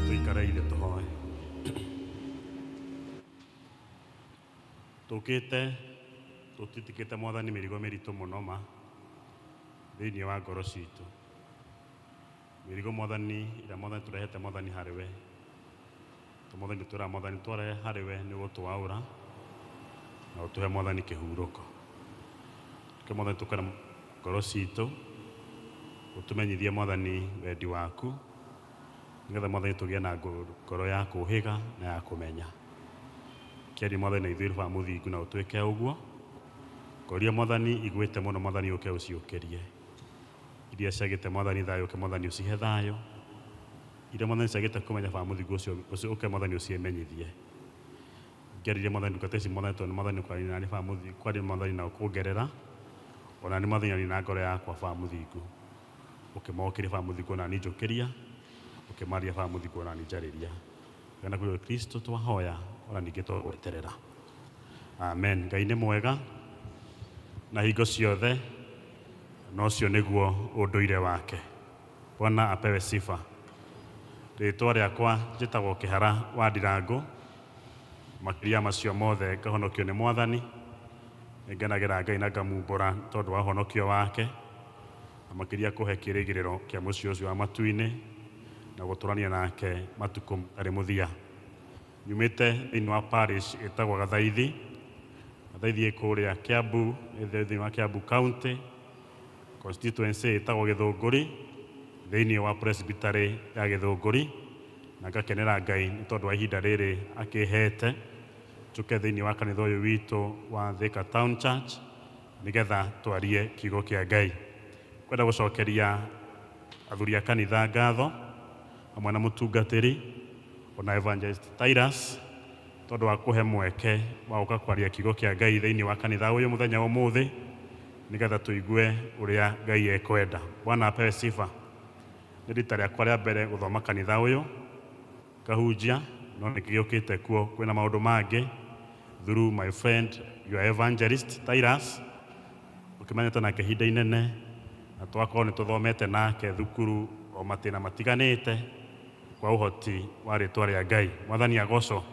tũikareire tũhoe tũkĩte tũtitikĩte mwathani mĩrigo mĩritũ mũno ma thĩinĩ wa ngoro citũ mĩrigo mwathani ĩrĩa mwathani tũrehete mwathani harĩ we Tũmũthĩ ngĩtwĩra Mwathani tware harĩ we nĩ gũtũaũra na ũtũhe Mwathani kĩhurũko. Reke Mwathani tũkore ngoro citũ, ũtũmenyithie Mwathani wendi waku, nĩgetha Mwathani tũgĩe na ngoro- ngoro ya kũũhĩga na ya kũmenya. Kĩaria Mwathani na ithuĩ Baba Mũthingu na ũtwĩke ũguo. Ngoria Mwathani igwĩte mũno Mwathani ũke ũciũkĩrie. Iria ciagĩte mwathani thayũ ũke mwathani ũcihe thayũ Iria mwathani ciagĩte kũmenya baba mũthingu ũcio ũcio ũke mwathani ũciĩmenyithie Ngĩarĩria mwathani ndungata ici mwathani tondũ nĩ mwathani ũkwaria nani baba mũthingu kwaria mwathani na ũkũngerera ona nĩ mwathani nani na ngoro yakwa baba mũthingu ũkĩmokĩria baba mũthingu ona nani njũkĩria ũkĩmarĩria baba mũthingu ona nani njarĩria kana kũrĩ Kristo twahoya ona ningĩ twagweterera amen Ngai nĩ mwega na hingo ciothe Na ũcio nĩguo ũndũire wake. Bwana apewe sifa. Rĩĩtwa rĩakwa njĩtagwo Kĩhara wa Ndirangũ, makĩria macio mothe ngahonokio nĩ Mwathani. Nĩngenagĩra Ngai na ngamumbũra nĩ tondũ wa ũhonokio wake, na makĩria kũhe kĩĩrĩgĩrĩro kĩa mũciĩ ũcio wa matu-inĩ na gũtũũrania nake matukũ matarĩ mũthia. Nyumĩte thĩinĩ wa parish ĩtagwo Gathaithi. Gathaithi ĩ kũrĩa Kiambu, ĩ thĩinĩ wa Kiambu County, constituency ĩtagwo Gĩthũngũri, thĩinĩ wa presbytery ya Gĩthũngũri. Na ngakenera Ngai nĩ tondũ wa ihinda rĩrĩ akĩhete njũke thĩinĩ wa kanitha ũyũ witũ wa Thika Town Church nĩgetha twarie kiugo kĩa Ngai. Kwenda gũcokeria athuri a kanitha ngatho. hamwe na mũtungatĩri o na Evangelist Titus tondũ wa kũhe mweke wa gũka kwaria kiugo kĩa Ngai thĩinĩ wa kanitha ũyũ mũthenya wa ũmũthĩ nĩgetha tũigue ũrĩa Ngai ekwenda. Bwana apewe sifa. Nĩ rita rĩakwa rĩa mbere gũthoma kanitha ũyũ ngahunjia no nĩ ngĩgĩũkĩte kuo kwĩna maũndũ mangĩ through my friend your Evangelist Titus. Tũkĩmenyete nake ihinda inene na tũgakorwo nĩ tũthomete nake thukuru o matĩna matiganĩte kwa ũhoti wa rĩtwa rĩa Ngai. Mwathani agocwo.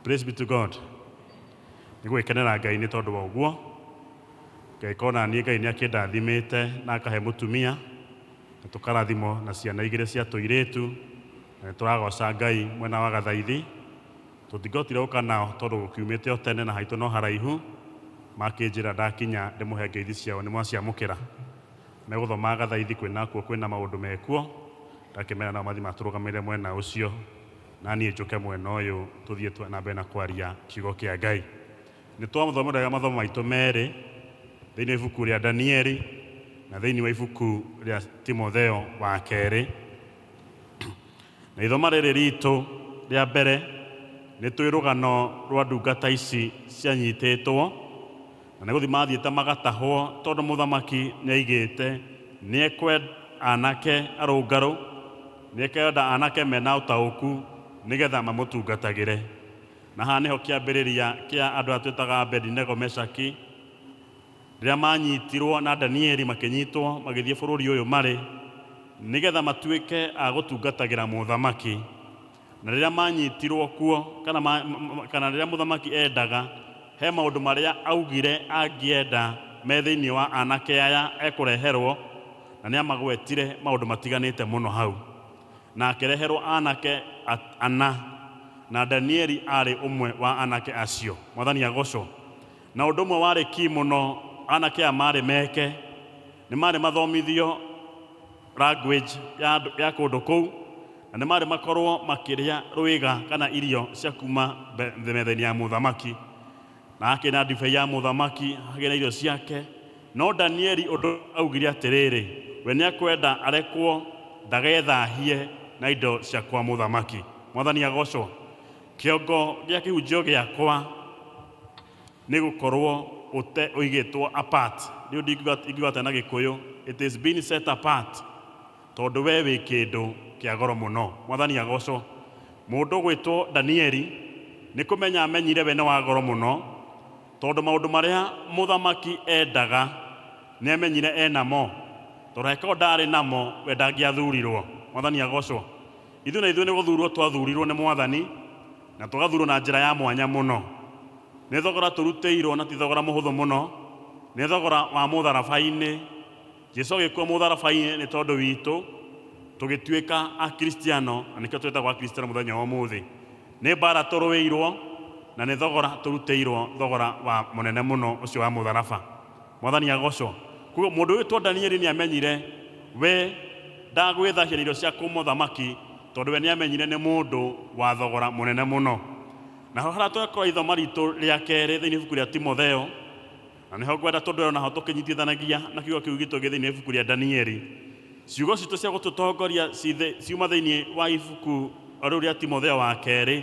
Praise be to God. Nĩ gwĩkenera Ngai nĩ tondũ wa ũguo. Ngagĩkorwo na niĩ Ngai nĩ akĩndathimĩte na akahe mũtumia na tũkarathimwo na ciana igĩrĩ cia tũirĩtu na nĩ tũragoca Ngai mwena wa gathaithi. Tũtingĩhotire gũka nao tondũ gũkiumĩte o tene na haitũ no haraihu, makĩnjĩra ndakinya ndĩmũhe ngeithi ciao nĩmwaciamũkĩra. Megũthomaga gathaithi kwĩ nakuo kwĩ na maũndũ mekuo, ngakĩmera nao mathiĩ matũrũgamĩrĩre mwena ũcio, naniĩ njũke mwena ũyũ tũthiĩ twa na mbere na kwaria kiugo kĩa Ngai. Nĩtwamũthomeraga mathomo maitũ merĩ thĩinĩ wa ibuku rĩa Danieli na thĩinĩ wa ibuku rĩa Timotheo wa kerĩ. Na ithoma rĩrĩ ritũ rĩa mbere nĩ twĩ rũgano rwa ndungata ici cianyitĩtwo na nĩ gũthiĩ mathiĩte magatahwo tondũ mũthamaki nĩ aigĩte nĩ ekwenda anake arũngarũ, nĩ ekwenda anake mena ũtaũku nĩ getha mamũtungatagĩre. Na haha nĩho kĩambĩrĩria kĩa andũ aya twĩtaga Abedi-nego, Meshaki Rĩrĩa maanyitirwo na Danieli makĩnyitwo magĩthiĩ bũrũri ũyũ marĩ, nĩgetha matuĩke a gũtungatagĩra mũthamaki. Na rĩrĩa maanyitirwo kuo, kana, ma, kana rĩrĩa mũthamaki endaga, he maũndũ marĩa augire angĩenda me thĩinĩ wa anake aya ekũreherwo, na nĩ amagwetire maũndũ matiganĩte mũno hau. Na akĩreherwo anake ana, na Danieli aarĩ ũmwe wa anake acio. Mwathani agocwo. Na ũndũ ũmwe warĩ ki mũno, anake aya maarĩ meke, nĩ maarĩ mathomithio language ya andũ ya kũndũ kũu, na nĩ maarĩ makorũo makĩrĩa rũĩga kana irio cia kuma mbe- metha-inĩ ya mũthamaki. Na hakĩrĩ na ndibei ya mũthamaki, hakĩrĩ na irio ciake. No Danieli ũndũ ũmwe augire atĩrĩrĩ, we nĩ ekwenda arekwo ndagethahie na indo cia kwa mũthamaki. Mwathani agocwo! Kĩongo gĩa kĩhunjio gĩakwa nĩ gũkorwo ũte ũigĩtwo apart. Rĩu ndingiuga ingiuga atĩa na Gĩkũyũ? It is been set apart. Tondũ wee wĩ kĩndũ kĩa goro mũno. Mwathani agocwo. Mũndũ gwĩtwo Danieli, nĩ kũmenya amenyire we nĩ wa goro mũno, tondũ maũndũ marĩa mũthamaki endaga, nĩ amenyire e namo. Tondũ angĩkorwo ndaarĩ namo, we ndangĩathurirwo. Mwathani agocwo. Ithuĩ na ithuĩ nĩ gũthuurwo twathuurirwo nĩ Mwathani na tũgathuurwo na njĩra ya mwanya mũno. Nĩ thogora tũrutĩirwo na ti thogora mũhũthũ mũno, nĩ thogora wa mũtharaba-inĩ. Jesu agĩkua mũtharaba-inĩ nĩ tondũ witũ, tũgĩtuĩka Akristiano na nĩkĩo twĩtagwo Akristiano mũthenya wa ũmũthĩ. Nĩ mbaara tũrũĩirwo na nĩ thogora tũrutĩirwo, thogora wa mũnene mũno ũcio wa mũtharaba. Mwathani agocwo. Koguo mũndũ wĩtwo Danieli nĩamenyire we ndagwĩthahia na irio cia kũ mũthamaki tondũ we nĩamenyire nĩ mũndũ wa thogora mũnene mũno. Naho harĩa twekora ithoma ritũ rĩa kerĩ thĩinĩ ibuku rĩa Timotheo, na nĩho ngwenda tũndũrero naho tũkĩnyitithanagia na kiugo kĩu gitũ gĩ thĩinĩ wa ibuku rĩa Danieli. Ciugo citũ cia gũtũtongoria ciuma thĩinĩ wa ibuku rĩu rĩa Timotheo wa kerĩ.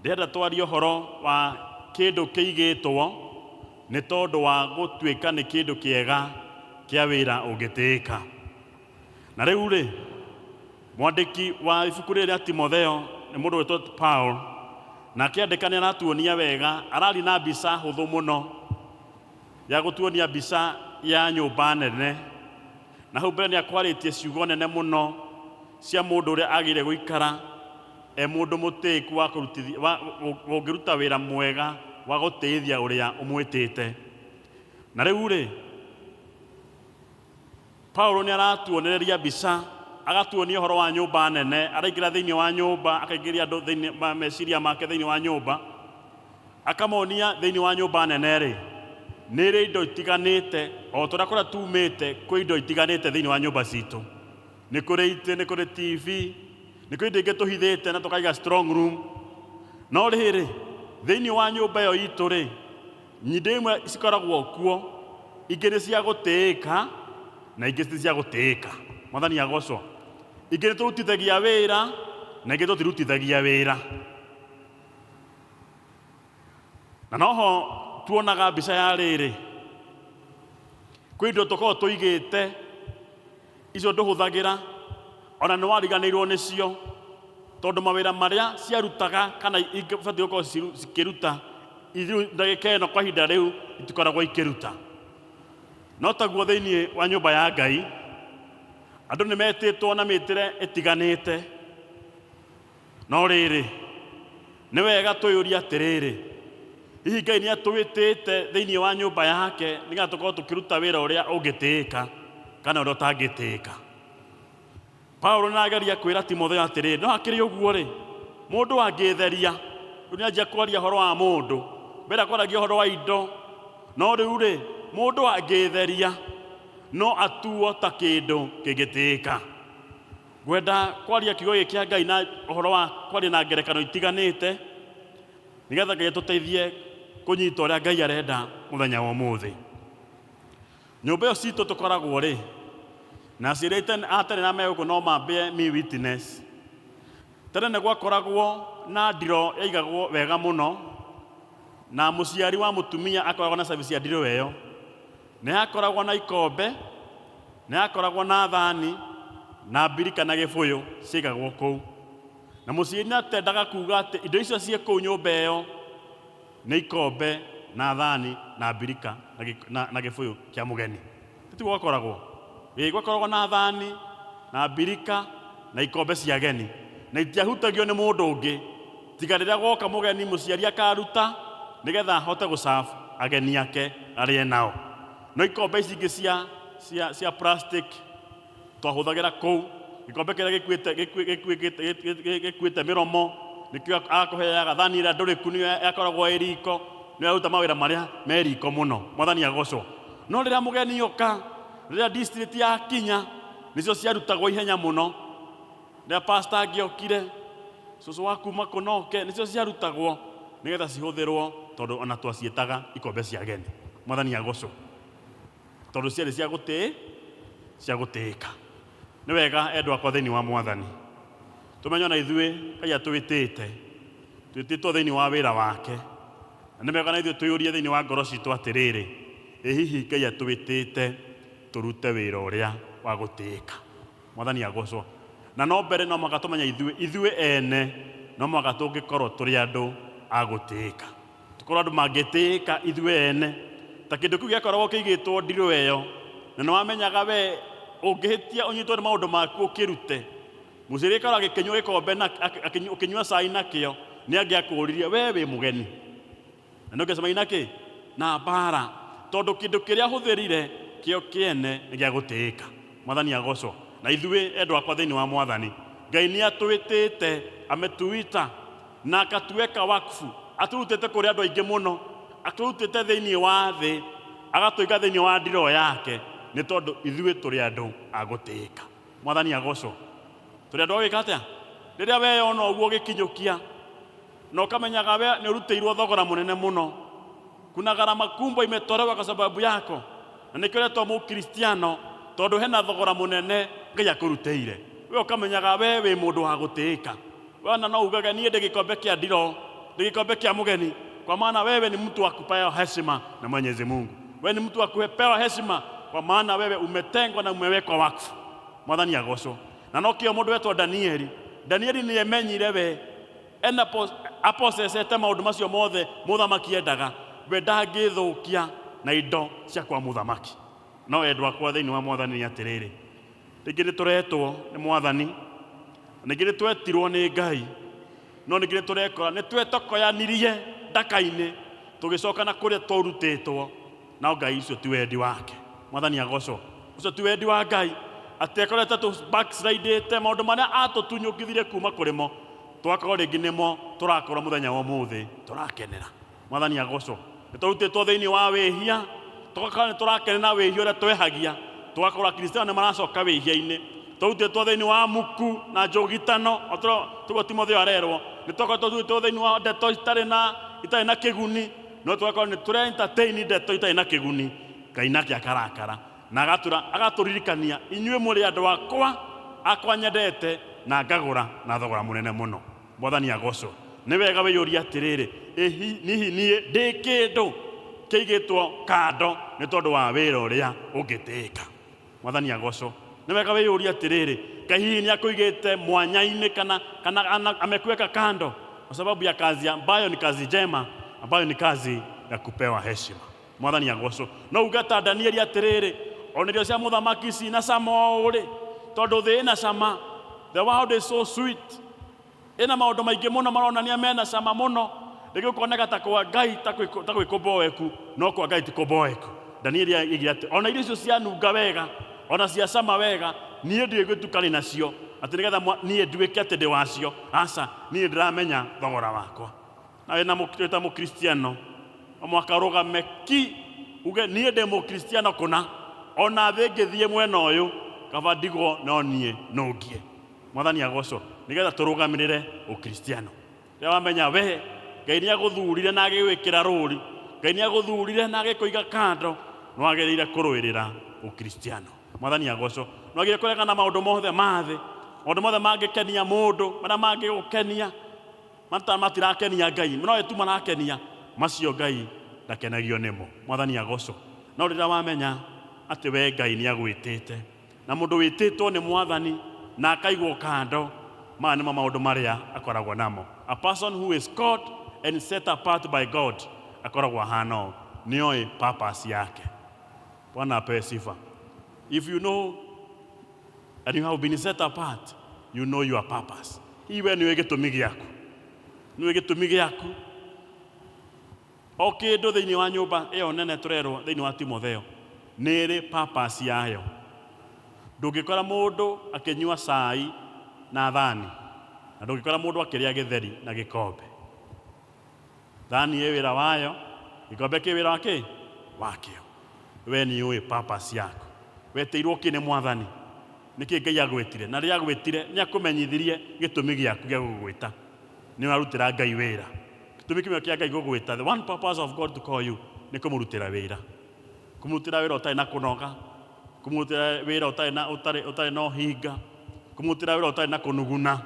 Ndĩrenda twarie ũhoro wa kĩndũ kĩigĩtwo nĩ tondũ wa gũtuĩka nĩ kĩndũ kĩega kĩa wĩra ũngĩtĩĩka. Na rĩu-rĩ, mwandĩki wa ibuku rĩrĩ rĩa Timotheo nĩ mũndũ wĩtwo Paul, na akĩandĩka nĩ aratuonia wega, araria na mbica hũthũ mũno ya gũtuonia mbica ya nyũmba nene. Na hau mbere nĩ akwarĩtie ciugo nene mũno cia mũndũ ũrĩa agĩrĩire gũikara e mũndũ mũtĩĩku wa kũrutithia, wa, ũ- ũngĩruta wĩra mwega wa gũtĩĩthia ũrĩa ũmwĩtĩte. Na rĩu-rĩ, Paulo nĩ aratuonereria mbica, agatuonia ũhoro wa nyũmba nene, araingĩra thĩinĩ wa nyũmba, akaingĩria andũ thĩinĩ ma meciria make thĩinĩ wa nyũmba, Akamonia thĩinĩ wa nyũmba nene-rĩ, nĩ irĩ indo itiganĩte, o ta ũrĩa kũrĩa tuumĩte kwĩ indo itiganĩte thĩinĩ wa nyũmba citũ. Nĩ kũrĩ itĩ, nĩ kũrĩ TV, nĩ kũrĩ indo ingĩ tũhithĩte na tũkaiga strong room. No rĩrĩ, thĩinĩ wa nyũmba ĩyo itũ-rĩ, indo imwe cikoragwo kuo, ingĩ nĩ cia gũtĩĩka na ingĩ ti cia gũtĩĩka. Mwathani agocwo. Ingĩ nĩ tũrutithagia wĩra na ingĩ tũtirutithagia wĩra. na noho tuonaga mbica ya rĩrĩ kwĩ indo tũkoragwo tũigĩte icio ndũhũthagĩra ona nĩ wariganĩirwo nĩcio tondũ mawĩra marĩa ciarutaga kana ibatiĩ gũkorwo ciru- cikĩruta ithiĩ ndagĩka ĩno kwa ihinda rĩu itikoragwo ikĩruta no taguo thĩinĩ wa nyũmba ya ngai andũ nĩ metĩtwo na mĩtĩre ĩtiganĩte No rĩrĩ, nĩ wega twĩyũrie atĩrĩrĩ, hihi Ngai nĩ atwĩtĩte thĩinĩ wa nyũmba yake nĩgetha tũkorwo tũkĩruta wĩra ũrĩa ũngĩtĩĩka kana ũrĩa ũtangĩtĩĩka? Paulo nĩ arageria kwĩra Timotheo atĩrĩrĩ, no hakĩrĩ ũguo-rĩ, mũndũ angĩĩtheria, rĩu nĩ anjia kwaria ũhoro wa mũndũ, mbere akwaragia ũhoro wa indo, no rĩu-rĩ, mũndũ angĩĩtheria no atuo ta kĩndũ kĩngĩtĩĩka. Ngwenda kwaria kiugo gĩkĩ kĩa Ngai na ũhoro wa kwaria na ngerekano itiganĩte nĩgetha Ngai atũteithie kũnyita ũrĩa Ngai arenda mũthenya wa ũmũthĩ. Nyũmba ĩyo citũ tũkoragwo rĩ, na aciari a tene na me gũkũ no mambie mi witness. Tene nĩ gwakoragwo na ndiroo yaigagwo wega mũno na mũciari wa mũtumia akoragwo na service ya ndiroo ĩyo. Nĩ aakoragwo na ikombe, nĩ aakoragwo na thani, na mbirika na gĩbũyũ ciaigagwo kũu. Na mũciari nĩ atendaga kuuga atĩ indo icio ciĩ kũu nyũmba ĩyo nĩ ikombe na thani na mbirika na gĩ- na- na gĩbũyũ kĩa mũgeni. Tiguo gwakoragwo? Ĩĩ, gwakoragwo na thani na mbirika na ikombe cia ageni, na itiahutagio nĩ mũndũ ũngĩ. tiga rĩrĩa gwoka mũgeni mũciari akaruta nĩgetha ahote gũserve ageni ake arĩe nao. No ikombe ici ingĩ cia, cia, cia plastic twahũthagĩra kũu, gĩkombe kĩrĩa gĩkuĩte- gĩkuĩ- gĩkuĩ- gĩkuĩ- gĩkuĩ- gĩkuĩte mĩromo nĩkĩo agakũheaga, thani ĩrĩa ndũrĩku nĩyo ĩkoragwo ĩ riko, nĩyo ĩraruta mawĩra marĩa me riko mũno. Mwathani agocwo. No rĩrĩa mũgeni oka, rĩrĩa district yakinya, nĩcio ciarutagwo ihenya mũno, Rĩrĩa pastor angĩokire, cũcũ wa kuma kũ na oke, nĩcio ciarutagwo nĩgetha cihũthĩrwo tondũ ona twaciĩtaga ikombe cia ageni. Mwathani agocwo. Tondũ ciarĩ cia gũtĩ, cia gũtĩĩka. Nĩ wega endwa akwa thĩinĩ wa Mwathani, tũmenye ona ithuĩ Ngai atwĩtĩte, twĩtĩtwo thĩinĩ wa wĩra wake, na nĩ wega ona ithuĩ twĩyũrie thĩinĩ wa ngoro citũ atĩrĩrĩ, ĩ hihi Ngai atwĩtĩte tũrute wĩra ũrĩa wa gũtĩĩka? Mwathani agoocwo. Na no mbere no mũhaka tũmenye ithuĩ, ithuĩ ene no mũhaka tũngĩkorwo tũrĩ andũ a gũtĩĩka. Tũkorwo andũ mangĩtĩĩka ithuĩ ene. Ta kĩndũ kĩu gĩakoragwo kĩigĩtwo ndirũ ĩyo, na nĩ wamenyaga we ũngĩhĩtia ũnyitwo nĩ maũndũ maku ũkĩrute. Mũciari gĩkoragwo gĩkĩnyua gĩkombe na, ũkĩnyua cai nakĩo, nĩ angĩakũũririe, we wĩ mũgeni? Na nĩkĩo cemai na kĩ? Na mbaara, tondũ kĩndũ kĩrĩa hũthĩrire kĩo kĩene nĩ gĩa gũtĩĩka. Mwathani agoocwo. Na ithuĩ, endwa akwa thĩinĩ wa Mwathani, Ngai nĩatwĩtĩĩte ametuita, na akatueka wakfu, atũrutĩte kũrĩ andũ aingĩ mũno, atũrutĩte thĩinĩ wa thĩ, agatũiga thĩinĩ wa ndiroo yake, nĩ tondũ ithuĩ tũrĩ andũ a gũtĩĩka. Mwathani agoocwo. Tũrĩ andũ a gwĩka atĩa? Rĩrĩa weyona ũguo ũgĩkinyũkia, Na ukamenyaga we nĩũrutĩirwo thogora mũnene mũno. Kuna gharama kubwa imetolewa kwa sababu yako. Na nĩkĩo ũretwo Mũkristiano tondũ hena thogora mũnene Ngai akũrutĩire. We ũkamenyaga we wĩ mũndũ wa gũtĩĩka. We ona no ugage niĩ ndĩ gĩkombe kĩa ndiroo, ndĩ gĩkombe kĩa mũgeni, kwa maana wewe ni mtu wa kupewa heshima na Mwenyezi Mungu. We ni mtu wa kupewa heshima kwa maana wewe umetengwa na umewekwa wakfu. Mwathani agocwo. Na nokĩo mũndũ wetwo Danieli. Danieli nĩemenyire we Ena apossesete maũndũ macio mothe mũthamaki endaga, we ndangĩthũkia na indo cia kwa mũthamaki. No endwa akwa thĩinĩ wa Mwathani nĩ atĩrĩrĩ, rĩngĩ nĩtũretwo nĩ Mwathani, na ningĩ nĩtwetirwo nĩ Ngai, no ningĩ nĩtũrekora nĩtwetokoyanirie ndaka-inĩ tũgĩcoka na kũrĩa twaurutĩtwo. No Ngai ucio ti wendi wake. Mwathani agocwo. Ucio ti wendi wa Ngai. Atĩ akorwo ta tũ backslidĩte maũndũ marĩa atũtunyũkithire kuma kũrĩ mo. Tũgakorwo rĩngĩ nĩmo tũrakorwo mũthenya wa ũmũthĩ tũrakenera. Mwathani agocwo. Nĩ tũrutĩtwo thĩinĩ wa wĩhia. Tũgakorwo nĩ tũrakenera wĩhia ũrĩa twehagia. Tũgakorwo akristiano nĩ maracoka wĩhia-inĩ. Tũrutĩtwo thĩinĩ wa muku na njũgitano. Tũguo Timotheo arerwo. Nĩ tũgakorwo tũrutĩtwo thĩinĩ wa ndeto itarĩ na itarĩ na kĩguni. no tũgakorwo nĩ tũre entertain ndeto itarĩ na kĩguni ngai nake akarakara na agatura agatũririkania inyuĩ mũrĩ andũ akwa akwa nyendete na ngagũra na thogora mũnene mũno mwathani agocwo nĩ wega wĩyũria atĩrĩrĩ ĩ hi- hihi niĩ ndĩ kĩndũ kĩigĩtwo kando nĩ tondũ wa wĩra ũrĩa ũngĩtĩĩka Mwathani agocwo. Nĩ wega wĩyũrie atĩrĩrĩ, Ngai hihi nĩ akũigĩte mwanya-inĩ kana, kana ana, amekuweka kando kwa sababu ya kazi ambayo ni kazi njema ambayo ni kazi ya kupewa heshima. Mwathani agocwo. No uge ta Danieli atĩrĩrĩ, ona irio cia mũthamaki cina cama ũũ rĩ, tondũ thĩ ĩna cama, the world is so sweet. Ĩna maũndũ maingĩ mũno maronania mena cama mũno, rĩngĩ ũkoneka ta kwa Ngai ta kwĩ- ta gwĩ kũmboeku, no kwa Ngai ti kũmboeku. Danieli aigire atĩ, ona irio icio cianunga wega, ona cia cama wega, niĩ ndiũĩ gwĩtukania nacio, atĩ nĩgetha mwa- niĩ nduĩke atĩ ndĩ wacio. Aca, niĩ nĩndĩramenya thogora wakwa. Na wĩna mũ- wĩta mũkristiano, no mũhaka ũrũgame ki, uge niĩ ndĩ mũkristiano kũna, ona thĩ ĩngĩthiĩ mwena ũyũ, kaba ndigwo no niĩ nũngie. Mwathani agocwo nigetha turugamirire ukristiano. Riria wamenya we Ngai niaguthurire na agigwikira ruri, Ngai niaguthurire na agikuiga kando, niwagirire kuruirira ukristiano. Mwathani agocwo. Niwagirire kuregana na maundu mothe ma thi, maundu mothe mangikenia mundu, maria mangigukenia, mata matirakenia Ngai, nowe tu marakenia, macio Ngai ndakenagio nimo. Mwathani agocwo. No riria wamenya ati we Ngai niagwitite, na mũndũ wĩtĩtwo nĩ Mwathani na akaigwo kando, maya nĩmo maũndũ marĩa akoragwo namo. A person who is called and set apart by God akoragwo ahana ũũ, nĩoĩ purpose yake. Bwana apewe sifa. If you know and you have been set apart, you know your purpose. Hihi we nĩũĩ gĩtũmi gĩaku? Nĩũĩ gĩtũmi gĩaku? O kĩndũ thĩinĩ wa nyũmba ĩyo nene tũrerwo thĩinĩ wa Timotheo nĩ ĩrĩ purpose yayo. Ndũngĩkora mũndũ akĩnyua cai na thani na ndũngĩkora mũndũ akĩrĩa gĩtheri na gĩkombe. Thani ĩ wĩra wayo, gĩkombe kĩ wĩra wa kĩ? Wakĩo. We nĩ ũĩ purpose yaku? Wetĩirwo kĩ nĩ Mwathani? Nĩkĩ Ngai agwĩtire? Na rĩrĩa agwĩtire nĩ akũmenyithirie gĩtũmi gĩaku gĩa gũgwĩta. nĩ ũrarutĩra Ngai wĩra. Gĩtũmi kĩmwe kĩa Ngai gũgwĩta, the one purpose of God to call you, nĩ kũmũrutĩra wĩra. Kũmũrutĩra wĩra ũtarĩ na kũnoga, kũmũrutĩra wĩra ũtarĩ na ũtarĩ ũtarĩ na ũhinga, kũmũrutĩra wĩra ũtarĩ na kũnuguna,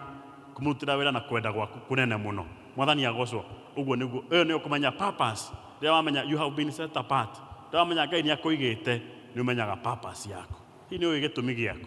kũmũrutĩra wĩra na kwenda gwaku kũnene mũno. Mwathani agocwo. Ũguo nĩguo, ĩyo nĩyo kũmenya purpose. Rĩrĩa wamenya you have been set apart, rĩrĩa wamenya Ngai nĩ akũigĩte, nĩ ũmenyaga purpose yaku. Hihi nĩ ũĩ gĩtũmi gĩaku?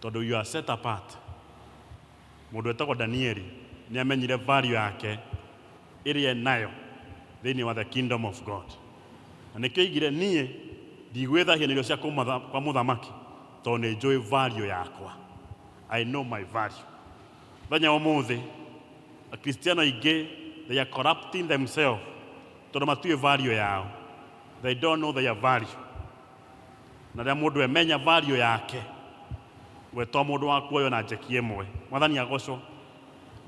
Tondũ you are set apart. Mũndũ wĩtagwo Danieli nĩ amenyire value yake ĩrĩa e nayo thĩinĩ wa the kingdom of God. Na nĩkĩo aigire niĩ ndigwĩthahia na irio cia kũmatha- kwa mũthamaki tondũ nĩ njũĩ value yakwa. I know my value. Mũthenya wa ũmũthĩ akristiano aingĩ they are corrupting themselves tondũ matiũĩ value yao. They don't know their value. na rĩrĩa mũndũ emenya value yake we to mũndũ wa kuoywo na njeki ĩmwe mwathani agocwo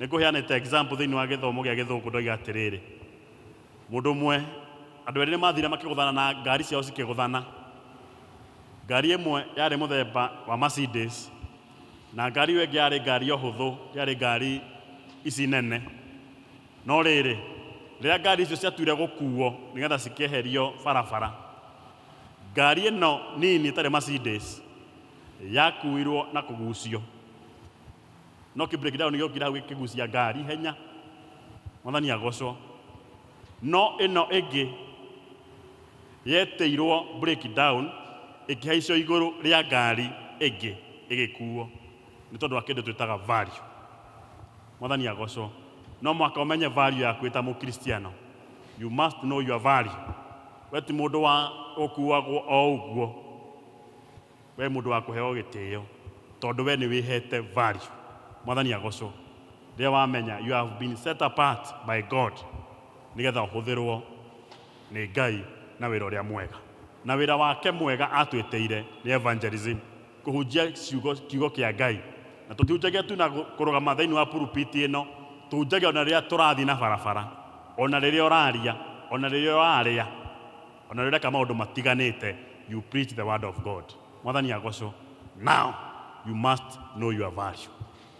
nĩ ngũheanĩte example thĩinĩ wa gĩthomo gĩa gĩthũngũ ndoiga atĩrĩrĩ mũndũ ũmwe andũ erĩ nĩ mathire makĩgũthana na ngari ciao cikĩgũthana ngari ĩmwe yarĩ mũthemba wa Mercedes na ngari ĩyo ĩngĩ yarĩ ngari o hũthũ yarĩ ngari ici nene no rĩrĩ rĩrĩa ngari icio ciatuire gũkuo nĩgetha cikĩeherio barabara Ngari ĩno nini ĩtarĩ Mercedes yakuirwo na kũgucio, no kĩ break down gĩokire hau gĩkĩgucia ngari ihenya, mwathani agocwo. No ĩno ĩngĩ yetĩirwo break down ĩkĩhaicio igũrũ rĩa ngari ĩngĩ ĩgĩkuo nĩ tondũ wa kĩndũ twĩtaga value. Mwathani agocwo. No mũhaka ũmenye value yaku wĩ ta mũkristiano. You must know your value. We ti mũndũ wa gũkuagwo o ũguo, we mũndũ wa kũheo gĩtĩo tondũ we nĩ wĩhete value. Mwathani agocwo rĩrĩa wamenya you have been set apart by God nĩgetha ũhũthĩrwo nĩ Ngai na wĩra ũrĩa mwega. Na wĩra wake mwega atwĩtĩire nĩ evangelism. kũhunjia ciugo kiugo kĩa Ngai. Na tũtihunjagia tu na kũrũgama thĩinĩ wa purupiti ĩno, tũhunjagia ona rĩrĩa tũrathiĩ na barabara, ona rĩrĩa ũraria, ona rĩrĩa ũrarĩa, ona rĩrĩa ũreka maũndũ matiganĩte, you preach the word of God. Mwathani agocwo. Now you must know your value.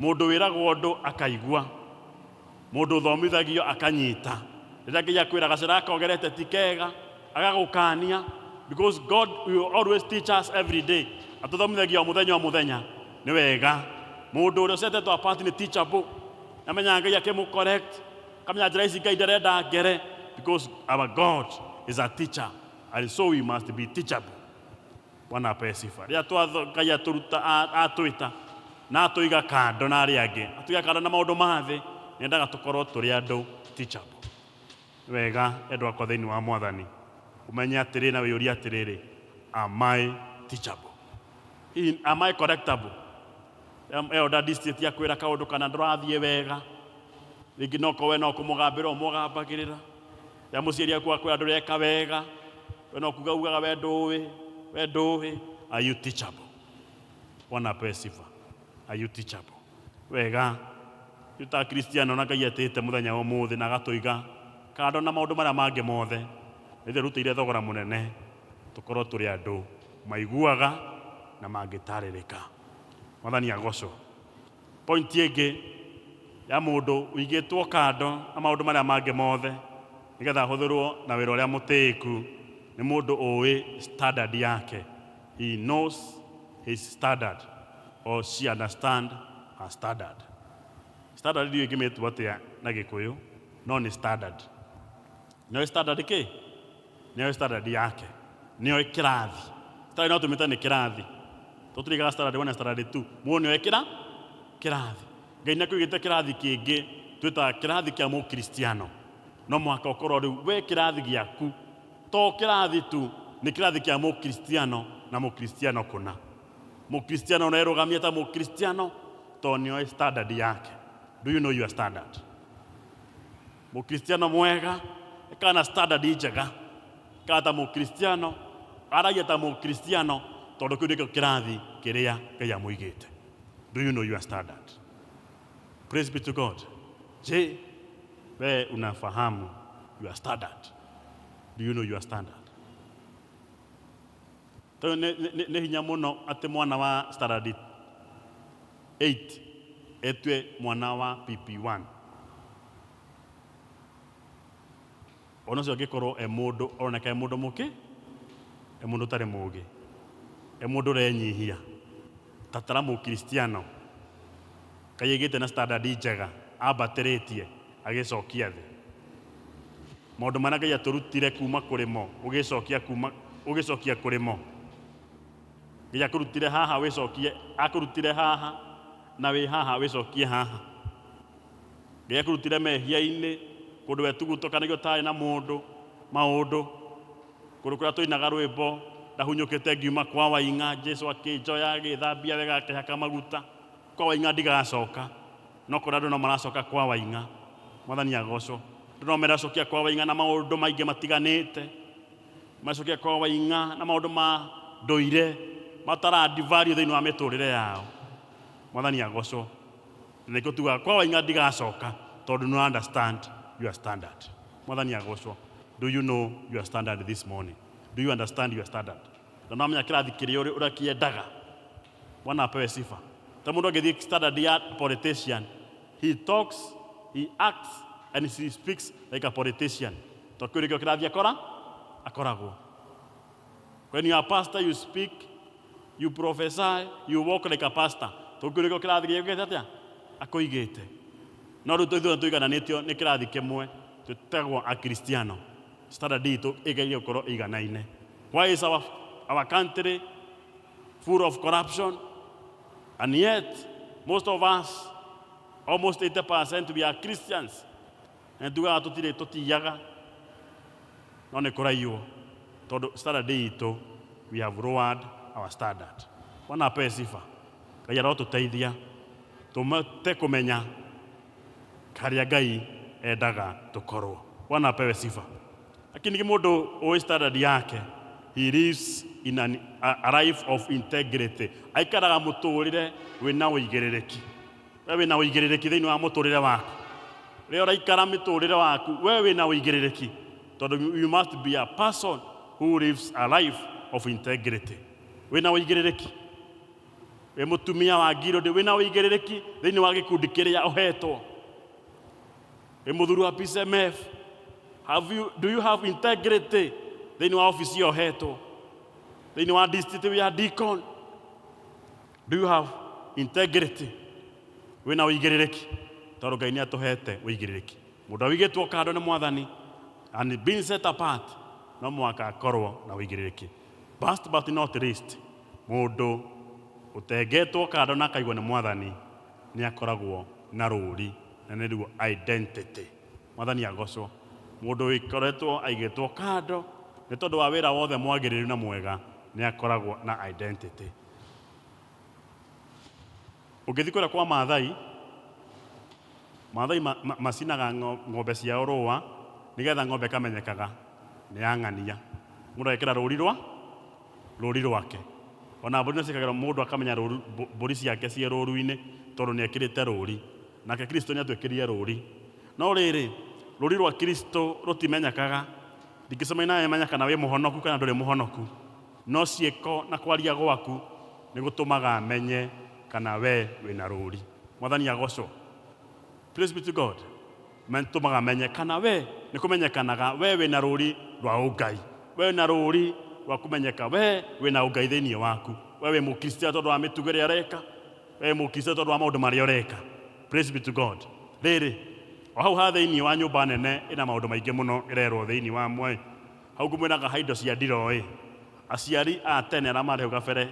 Mũndũ wĩragwo ũndũ akaigua. Mũndũ ũthomithagio akanyita. Rĩrĩa Ngai akwĩra gacĩra gaka ũgerete ti kega, agagũkania. Because God will always teach us every day. Atũthomithagia o mũthenya o mũthenya. Nĩ wega. Mũndũ ũrĩa ũcetetwo apart nĩ teachable. Nĩamenyaga Ngai akĩmũ correct. Akamenya njĩra ici Ngai ndarenda ngere. Because our God is a teacher. And so we must be teachable. Bwana apewe sifa. Rĩrĩa twatho- Ngai atũruta a- atwĩta na atũiga kando na arĩa angĩ, atũiga kando na maũndũ ma thĩ, nĩendaga tũkorwo tũrĩ andũ teachable. Nĩ wega endwa akwa thĩinĩ wa Mwathani ũmenye atĩrĩ na wĩyũrie atĩrĩrĩ, am I teachable? Hihi am I correctable? Em- Elder district akwĩra kaũndũ kana ndũrathiĩ wega, rĩngĩ no ko we no kũmũgambĩra ũmũgambagĩrĩra. Rĩrĩa mũciari aku akwĩra ndũreka wega, we no kuga ugaga we ndũĩ we ndũĩ are you teachable bwana apewe sifa are you teachable wega rĩu ta kristiano na ngai etĩte mũthenya wa ũmũthĩ na agatũiga kando na maũndũ marĩa mangĩ mothe ithe rutĩire thogora mũnene tũkorwo tũrĩ andũ maiguaga na mangĩtarĩrĩka mwathani agocwo Point ĩngĩ ya mũndũ ũigĩtwo kando na maũndũ marĩa mangĩ mothe nĩgetha ahũthĩrwo na wĩra ũrĩa mũtĩĩku nĩ mũndũ ũĩ standard yake. He knows his standard or she understand her standard. Standard ndiũĩ ingĩmĩtua atĩa na gĩkũyũ no nĩ standard. nĩoĩ standard kĩ nĩoĩ standard yake nĩoĩ kĩrathi standard no tũmĩte nĩ kĩrathi tũtirigaga standard one na standard two mũndũ nĩoĩ kĩra kĩrathi ngai nĩ akũigĩte kĩrathi kĩngĩ twĩtaga kĩrathi kĩa mũkristiano no mũhaka ũkorwo rĩu we kĩrathi gĩaku to kĩrathi tu nĩ kĩrathi kĩa mũkristiano na mũkristiano kũna mũkristiano ũrerũgamia ta mũkristiano to nĩoĩ standard yake do you know your standard Mũkristiano mwega ĩkaga na standard njega, ĩkaga ta Mũkristiano, aragia ta Mũkristiano, tondũ kĩu nĩkĩo kĩrathi kĩrĩa Ngai amũigĩte. Do you know your standard? Praise be to God. Je, wewe unafahamu your standard? Do you know your standard? Toyũ nĩ, nĩ, nĩ hinya mũno atĩ mwana wa standard eight etue mwana wa PP one. Ona ũcio angĩkorwo e mũndũ ũroneka e mũndũ mũkĩ, e mũndũ ũtarĩ mũgĩ, e mũndũ ũrenyihia, ta tara mũkiristiano. Kaĩ agĩte na standard njega ambatĩrĩtie agĩcokia thĩ? Maũndũ marĩa Ngai atũrutire kuma kũrĩ mo ũgĩcokia kuma ũgĩcokia kũrĩ mo. Ngai akũrutire haha wĩcokie akũrutire haha na wĩ haha wĩcokie haha. Ngai akũrutire mehia-inĩ kũndũ wetugutokanagio ũtarĩ na mũndũ maũndũ kũndũ kũrĩa tũinaga rwĩmbo ndahunyũkĩte ngiuma kwa waing'a Jesu akĩnjoya agĩthambia wega akĩhaka maguta Kwa waing'a ndigacoka, no kũrĩa andũ no maracoka kwa waing'a. Mwathani agocwo. Andũ no meracokia kwa waing'a na maũndũ maingĩ matiganĩte. Maracokia kwa waing'a na maũndũ ma ndũire matarandi value thĩinĩ wa mĩtũrĩre yao. Mwathani agocwo. Na nĩkĩo tugaga kwa waing'a ndigacoka tondũ nĩ understand your standard. Mwathani agocwo. Do you know your standard this morning? Do you understand your standard? Na nĩwamenya kĩrathi kĩrĩa ũrĩa kĩendaga. Bwana apewe sifa. Ta mundu angĩthiĩ standard ya politician, he talks, he acts and he speaks like a politician. To kĩu nĩkĩo kĩrathiĩ akora akoragwo. When you are a pastor, you speak, you prophesy, you walk like a pastor. To kĩu nĩkĩo kĩrathi gĩũkĩte atĩa? Akũigĩte. No rĩu ithuĩ tũigananĩtio nĩ kĩrathi kĩmwe tũtagwo Akristiano. Standard itũ ĩgeire gũkorwo ĩiganaine. Why is our, our country full of corruption. And yet, most of us, almost 80% we are Christians. Na tugaga tũtirĩ tũtiyaga no nĩ kũraiywo tondũ standard itũ we have lowered our standard bwana ape sifa ngai arotũteithia tũmate kũmenya harĩa ngai endaga tũkorwo bwana apewe sifa Lakini nĩ mũndũ ũĩ standard yake. He lives in an, a, a life of integrity. Aikaraga mũtũũrĩre wĩna ũigĩrĩrĩki. We wĩna ũigĩrĩrĩki thĩinĩ wa mũtũũrĩre waku. Rĩrĩa ũraikara mĩtũũrĩre waku, we wĩna ũigĩrĩrĩki. Tondũ you must be a person who lives a life of integrity. Wĩna ũigĩrĩrĩki. Wĩ mũtumia wa ngirũndĩ, wĩna ũigĩrĩrĩki thĩinĩ wa gĩkundi kĩrĩa ũhetwo. ĩ mũthuri wa PCMF have you, do you have integrity thĩinĩ wa ofisi ĩyo hetwo thĩinĩ wa district ya deacon do you have integrity wĩna ũigĩrĩrĩki tondũ ngai nĩ atũhete ũigĩrĩrĩki mũndũ awigĩtwo kando nĩ mwathani and being set apart no mũhaka akorwo na ũigĩrĩrĩki last but not least mũndũ ũtengetwo kando na akaigwo nĩ mwathani nĩ akoragwo na rũũri Na nĩruo identity. Mwathani agocwo. Mũndũ wĩkoretwo aigĩtwo kando nĩ tondũ wa wĩra wothe mwagĩrĩru na mwega nĩ akoragwo na identity. Ũngĩthiĩ kũrĩa kwa Maathai, Maathai macinaga ng'ombe ciao rũũa nĩgetha ng'ombe ĩkamenyekaga nĩ ya ng'ania. Mũndũ agekĩra rũũri rwa. rũũri rwake. O na mbũri no ciĩkagĩrũo mũndũ akamenya rũũru, mbũri ciake ciĩ rũũru-inĩ tondũ nĩ ekĩrĩte rũũri. Nake Kristo nĩ aatwĩkĩrire rũũri. No rĩrĩ, rũũri rwa Kristo rũtimenyekaga. Ndingĩcemania nawe menye kana wĩ mũhonoku kana ndũrĩ mũhonoku. No ciĩko na kwaria gwaku nĩ gũtũmaga menye kana wee wĩ na rũũri. Mwathani agoocwo. Praise be to God. Mantu magamenyekana we, nĩ kũmenyekanaga we wĩ na rũũri rwa ũngai. We wĩ na rũũri rwa kũmenyeka we wĩ na ũngai thĩinĩ waku. We wĩ Mũkristiano tondũ wa mĩtugo ĩrĩa ũreka. We wĩ Mũkristiano tondũ wa maũndũ marĩa ũreka. Praise be to God. Rĩrĩ, o hau ha thĩinĩ wa nyũmba nene ĩna maũndũ maingĩ mũno ĩrerwo thĩinĩ wa mo ĩ, hau ngũmwĩraga ha indo cia ndiroo ĩ, aciari a tene arĩa marĩ hau gabere,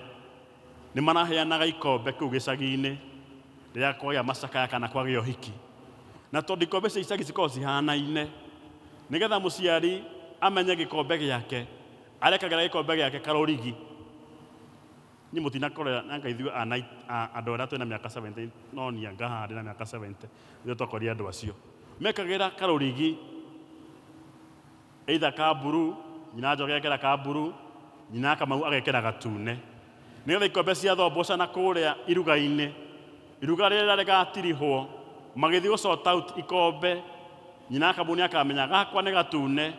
Nĩ maraheanaga ikombe kũu gĩcagi-inĩ rĩrĩa kwagĩa macakaya kana kwagĩa ũhiki. Na tondũ ikombe cia icagi cikoragwo cihanaine, nĩgetha mũciari amenye gĩkombe gĩake, arekagĩra gĩkombe gĩake karũrigi. Niĩ mũtinakora anga ithuĩ andũ arĩa twĩ na mĩaka seventy no niĩ anga haha ndĩ na mĩaka seventy nĩ twakorire andũ acio. Mekagĩra karũrigi. either ka blue, nyina wa njoki agekĩra ka blue, nyina wa kamau agekĩra gatune. Nĩgetha ikombe ciathoboca na kũrĩa iruga-inĩ, iruga rĩrĩa rĩgatirihwo, magĩthiĩ gũ sort out ikombe, nyina wa kamau nĩakamenya gakwa nĩ gatune,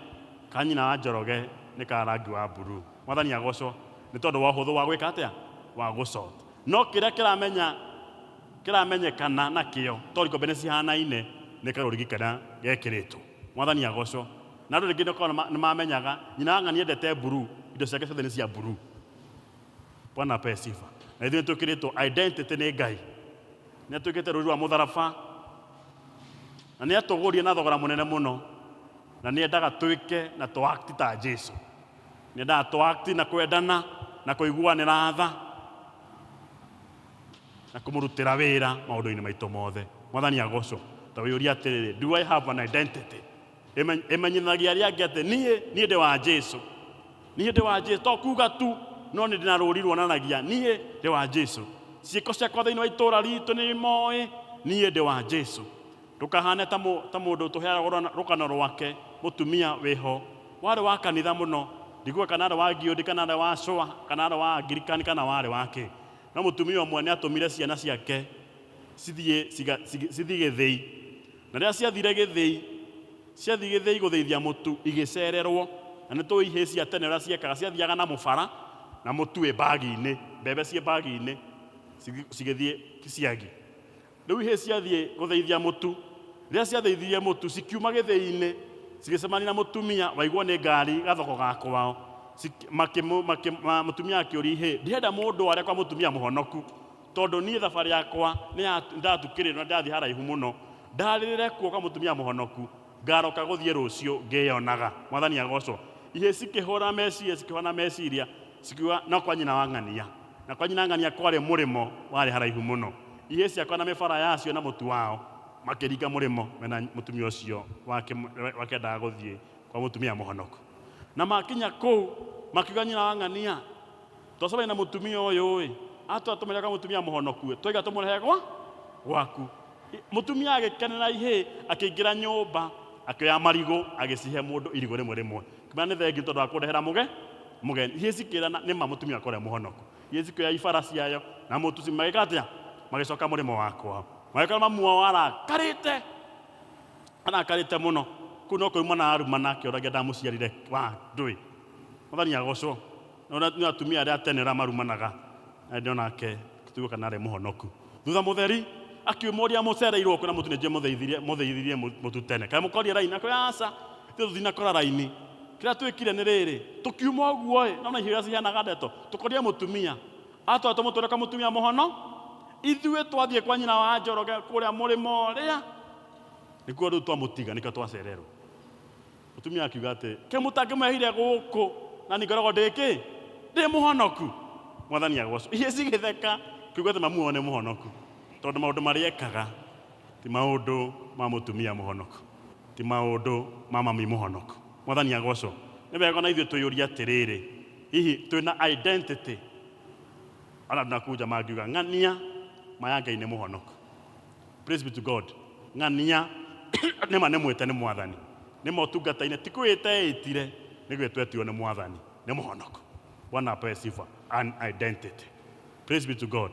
ka nyina wa njoroge nĩ ka rangi wa blue. Mwathani agocwo nĩ tondũ wa ũhũthũ wa gwĩka atĩa? Wa gũ sort. No kĩrĩa kĩramenya, kĩramenyekana nakĩo, tondũ ikombe nĩ cihanaine, nĩ karũrigi karĩa gekĩrĩtwo. Mwathani agocwo. Na andũ rĩngĩ nĩkorwo nĩma, nĩmamenyaga, nyina wa ng'ania endete blue, indo ciake ciothe nĩ cia blue. Bwana apewe sifa. Na ithuĩ nĩtwĩkĩrĩtwo identity nĩ Ngai. Nĩatwĩkĩte rũri rwa mũtharaba, na nĩatũgũrire na thogora mũnene mũno, na nĩendaga twĩke na tũ act ta Jesu. Nĩendaga tũ act na kwendana, na kũiguanĩra tha. Na kũmũrutĩra wĩra maũndũ-inĩ maitũ mothe. Mwathani agocwo. Ta wĩyũria atĩrĩrĩ, Do I have an identity? Ĩmenyithanagia arĩa angĩ atĩ niĩ, niĩ ndĩ wa Jesu. Niĩ ndĩ wa Jesu. To kuga tu, no nĩ ndĩ na rũũri ruonanagia niĩ ndĩ wa Jesu. Ciĩko ciakwa thĩinĩ wa itũũra ritũ nĩ imoĩ niĩ ndĩ wa Jesu. Ndũkahane ta mũndũ tũheaga rũgano rwake, mũtumia wĩho, warĩ wa kanitha mũno, ndiguga kana arĩ wa Giũndĩ kana arĩ wa Cũa kana arĩ wa Angirikani kana warĩ wa kĩ. No mũtumia ũmwe nĩ aatũmire ciana ciake cithiĩ ciga- cigi- cithiĩ gĩthĩi. Na rĩrĩa ciathire gĩthĩi, ciathiĩ gĩthĩi gũthĩithia mũtu igĩcererwo. Na nĩ tũĩ ihĩĩ cia tene ũrĩa ciekaga, ciathiaga na mũbara na mũtu wĩ mbagi-inĩ, mbembe ciĩ mbagi-inĩ cigi- cigĩthiĩ ciagi. Rĩu ihĩĩ ciathiĩ gũthĩithia mũtu. Rĩrĩa ciathĩithirie mũtu, cikiuma gĩthĩi-inĩ, cigĩcemania na mũtumia waigwo nĩ ngari gathoko ga kwao. Ciki- makĩmũ- makĩ- ma- Mũtumia akĩũria ihĩĩ, ndirenda mũndũ ware kwa mũtumia mũhonoku, tondũ niĩ thabarĩ yakwa nĩ ya- nĩndatukĩrĩrwo na ndĩrathiĩ haraihu mũno. Ndarĩrĩre kuo kwa mũtumia mũhonoku. Ngaaroka gũthiĩ rũciũ ngĩĩonaga. Mwathani agoocwo. Ihĩĩ cikĩhũũra meciiria, cikĩhũũra meciiria, cikiuga, No kwa nyina wa Ng'ania. Na kwa nyina wa Ng'ania kwarĩ mũrĩmo warĩ haraihu mũno. Ihĩĩ ciakwa na mĩbara yacio na mũtu wao makĩringa mũrĩmo me na mũtumia ũcio wake wakendaga gũthiĩ kwa mũtumia mũhonoku. Na maakinya kũu, makiuga, Nyina wa Ng'ania! Twacobaine na mũtumia ũyũ-ĩ, atwĩra tũmũrehe kwa mũtumia mũhonoku-ĩ, twaiga tũmũrehe gwa gwaku. Mũtumia agĩkenera ihĩĩ, akĩingĩra nyũmba, akĩoya marigũ, agĩcihe mũndũ irigũ rĩmwe rĩmwe, akĩmwĩra nĩ thengiũ tondũ wa kũndehera mũge mũgeni. Ihĩĩ cikĩrana nĩ ma mũtumia wakwa ũrĩa mũhonoku. Ihĩĩ cikĩoya ibara ciayo na mũtu ci- magĩka atĩa? Magĩcoka mũrĩmo wa kwao. Magĩkora mamu wao arakarĩte, arakarĩte mũno. Kũu no kũrumana arumana akĩũragia ndamũciarire wa ndũĩ. Mwathani agocwo. No na nĩ atumia arĩa tene arĩa marumanaga na hĩndĩ ĩyo nake tũtiũĩ kana arĩ mũhonoku. Thutha mũtheri akiumũria mũcereirwo kwĩra mũtu nĩnjĩ mũtheithirie mũtheithirie mũ- mũtu tene kaĩ mũkorie raini akĩrĩ aca ithuĩ tũtinakora raini kĩrĩa twĩkire nĩ rĩrĩ tũkiuma ũguo ĩ nona ihiũ iria ciheanaga ndeto tũkorie mũtumia atwara tũmũtwĩre kwa mũtumia mũhono ithuĩ twathiĩ kwa nyina wa njoroge kũrĩa mũrĩmo ũrĩa nĩkuo rĩu twamũtiga nĩkĩo twacererwo Mũtumia akiuga atĩrĩ, Kaĩ mũtangĩmwehire gũkũ na niĩ ngoragwo ndĩ kĩ? Ndĩ mũhonoku. Mwathani agoocwo. Iria cigĩtheka kiuga atĩ mamu wao nĩ mũhonoku, tondũ maũndũ marĩa ekaga ti maũndũ ma mũtumia mũhonoku, ti maũndũ ma mami mũhonoku. Mwathani agoocwo. Nĩ wega o na ithuĩ twĩyũrie atĩrĩrĩ, hihi twĩ na identity? Ona andũ na kũu nja mangiuga, Ng'ania, ma ya Ngai nĩ mũhonoku. Praise be to God. Ng'ania nĩ ma nĩ mwĩte nĩ mwathani nĩ ma ũtungata-inĩ ti kwĩĩta eĩtire nĩ gwĩtwo etirwo nĩ mwathani nĩ mũhonoko bwana apewe sifa an identity praise be to god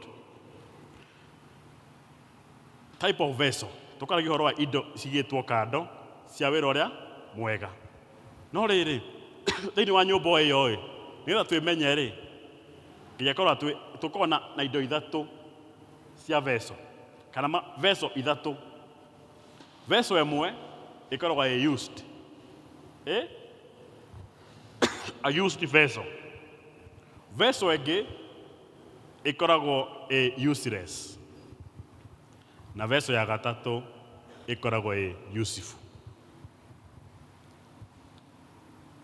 type of vessel tũkaragia ũhoro wa indo cigĩtwo kando cia wĩra ũrĩa mwega no rĩrĩ thĩinĩ wa nyũmba o ĩyo ĩ nĩgetha twĩmenye rĩ nginya korwo tũkorwo na, na indo ithatũ cia veso kana ma veso ithatũ. Veso ĩmwe ĩkoragwo ĩ used, ĩ a used vessel. Veso ĩngĩ ĩkoragwo ĩ useless, na veso ya gatatũ ĩkoragwo ĩ useful.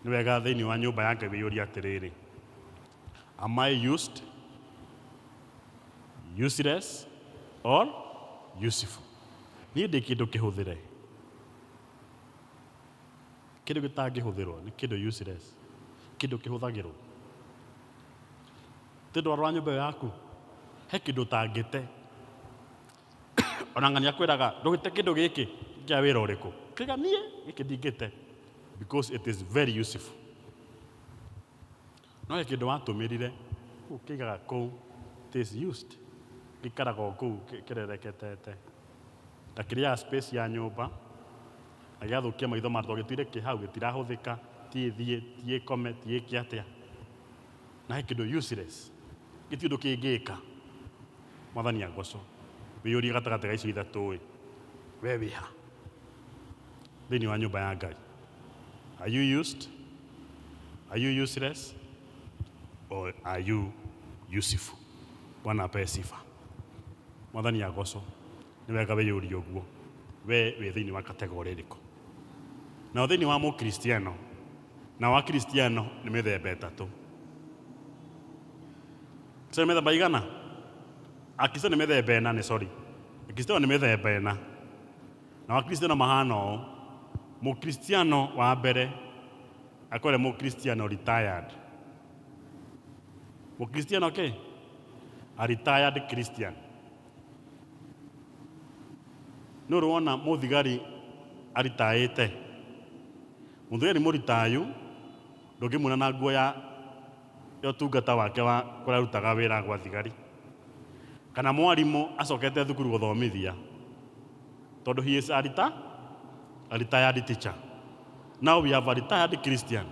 Nĩ wega thĩinĩ wa nyũmba ya Ngai wĩyũrie atĩrĩrĩ, Am I used, useless or useful? Niĩ ndĩ kĩndũ kĩhũthĩre. Kĩndũ gĩtangĩhũthĩrwo nĩ kĩndũ useless, kĩndũ kĩhũthagĩrwo. Thĩinĩ wa nyũmba ĩyo yaku he kĩndũ ũtangĩte, ona ng'ania akwĩraga ndũgĩte kĩndũ gĩkĩ kĩa wĩra ũrĩkũ? Ũkauga niĩ gĩkĩ ndingĩte because it is very useful. No he kĩndũ watũmĩrire ũkĩigaga kũu it is used gĩikaraga o kũu kĩrereketete ta kĩrĩaga space ya nyũmba na gĩgathũkia maitho ma andũ tondũ gĩtũire kĩ hau gĩtirahũthĩka ti thiĩ ti ĩkome ti ĩke atĩa na he kĩndũ useless gĩtirĩ ũndũ kĩngĩka. Mwathani agocũo. Wĩyũrie gatagatĩ ga icio ithatũ ĩ we wĩ ha? thĩinĩ wa nyũmba ya Ngai. Are you used? Are you useless? Or are you useful? Bwana ape sifa. Mwathani agocwo. Nĩ wega wĩyũrie ũguo. We wĩ thĩinĩ wa kategorĩ ĩrĩkũ? Nao thĩinĩ wa mũkristiano, nao akristiano nĩ mĩthemba ĩtatũ. Sio mĩthemba igana? Akristo nĩ mĩthemba ĩna, nĩ sorry. Akristo nĩ mĩthemba ĩna. na wakristiano mahana ũũ mũkristiano wa mbere akore mũkristiano retired mũkristiano kĩ a retired christian nĩ ũrĩ wona mũthigari aritaĩte mũthigari mũritayu ndũngĩmuona na nguo ya ya ũtungata wake wa kũrĩa arutaga wĩra gwa thigari, kana mwarimũ acokete thukuru gũthomithia, tondũ he is a reta, a retired teacher. Now we have a retired Christian.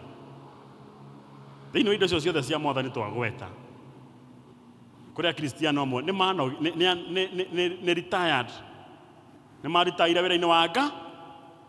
Thĩinĩ wa indo icio ciothe cia mwathani twagweta, kũrĩ akristiano amwe nĩ mano- nĩ- nĩ- nĩ- nĩ- nĩ- nĩ retired, nĩ maritaire wĩra-inĩ wa nga,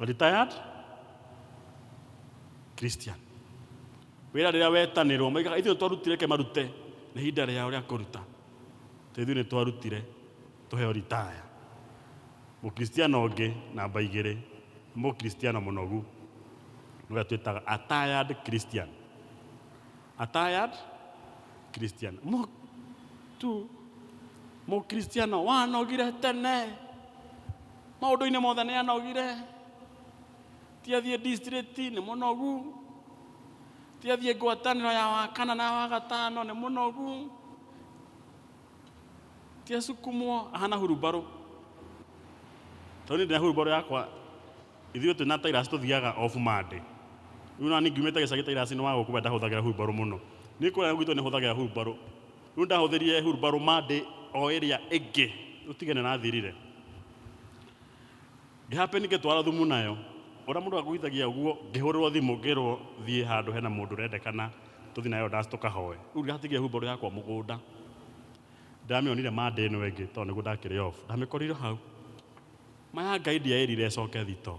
Retired Christian. Wĩra rĩrĩa wetanĩrwo, moigaga ithuĩ twarutire ke marute, nĩ ihinda rĩao rĩa kũruta. Tondũ ithuĩ nĩ twarutire, tũheo ritaya. Mũkristiano ũngĩ, namba igĩrĩ, nĩ mũkristiano mũnogu. Nĩwe twĩtaga a tired Christian. A tired Christian. Mũ- tu mũkristiano wanogire tene Maũndũ-inĩ mothe nĩ anogire, ti athiĩ district nĩ mũnogu, ti athiĩ ngwatanĩro ya wakana na wagatano nĩ mũnogu, ti asukumwo, ahana hurumbarũ. Tondũ niĩ ndĩna hurumbarũ yakwa, ithuĩ twĩna tairasi tũthiaga off Monday. Rĩu ona niĩ ngiumĩte gĩcagi tairasi nĩ wa gũkua ndahũthagĩra hurumbarũ mũno. Niĩ kũrĩa gwitũ nĩ hũthagĩra hurumbarũ. Rĩu ndahũthĩrire hurumbarũ Monday o ĩrĩa ĩngĩ ũtige nĩ rathirire. Ngĩhape ngĩtwara thumu nayo ũrĩa mũndũ agũithagia ũguo ngĩhũrĩrwo thimũ ngĩrwo thiĩ handũ hena mũndũ ũrendekana tũthiĩ nayo ndaci tũkahoe. Rĩu ndatigia hurumbarũ yakwa mũgũnda ndamĩonire Monday ĩno ĩngĩ tondũ nĩguo ndakĩrĩ off ndamĩkorire hau. Ma ya Ngai ndiaĩrire ĩcoke thitoo.